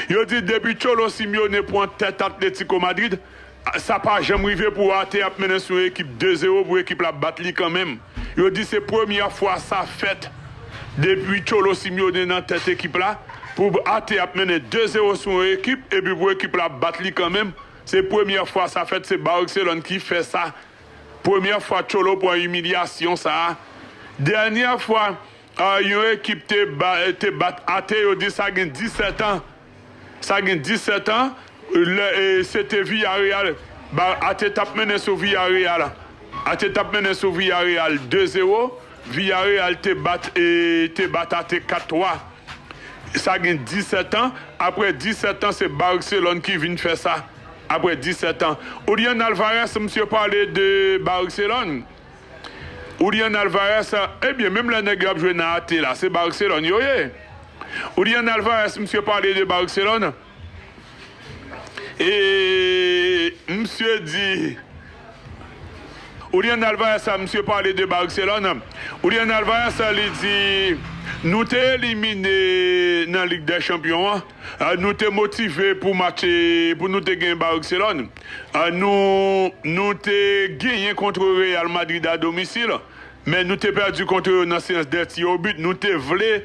Yo di depi Cholo Simeone pwan tèt Atletico Madrid, sa pa janm rive pou Arte ap mennen sou yon ekip 2 zero pou ekip la bat li kanmenm. Yo di se premyè fwa sa fèt depi Cholo Simeone nan tèt ekip la, pou Arte ap mennen 2 zero sou yon ekip epi pou ekip la bat li kanmenm, se premyè fwa sa fèt, se Barcelone ki fè sa, premyè fwa Cholo pwan imilyasyon sa, dènyè fwa. Yon ekip te bat ate yo di sa gen 17 an, sa gen 17 an lè se te Villareal ate t ap mennen sou Villareal, ate t ap mennen sou Villareal 2 zero, Villareal te bat te bat ate 4 twa sa gen 17 an, aprè 17 an se Barcelone ki vin fè sa aprè 17 an Julian Alvarez msye pale de Barcelone. Julian Alvarez ebyen menm lè nèg yo ap jwe nan ate la se Barcelone yo ye Julian Alvarez misye pale de Barcelone e misye di Julian Alvarez sa misye pale de Barcelone Julian Alvarez li di nou te elimine nan lig dè chanpyon an. Nou te motive pou match pou nou te gen Barcelone. Nou nou te genyen kontre Real Madrid a domisil, men nou te pèdi kontre yo nan seyans dè ti o but. Nou te vle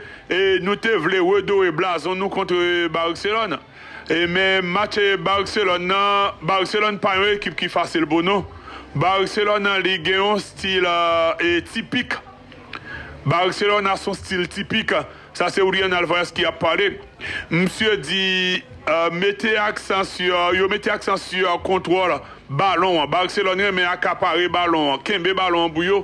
nou te vle redore blazon nou kontre Barcelone. Men match Barcelone nan, Barcelone pa yon ekip ki fasil pou nou. Barcelone li gen yon stil tipik. Barcelona son stil tipik. Sa se Julian Alvarez ki ap pale. Misye di mete aksan sur, yo mete aksan sur kontwòl balon an. Barcelone renmen akapare balon an, kenbe balon an pou yo.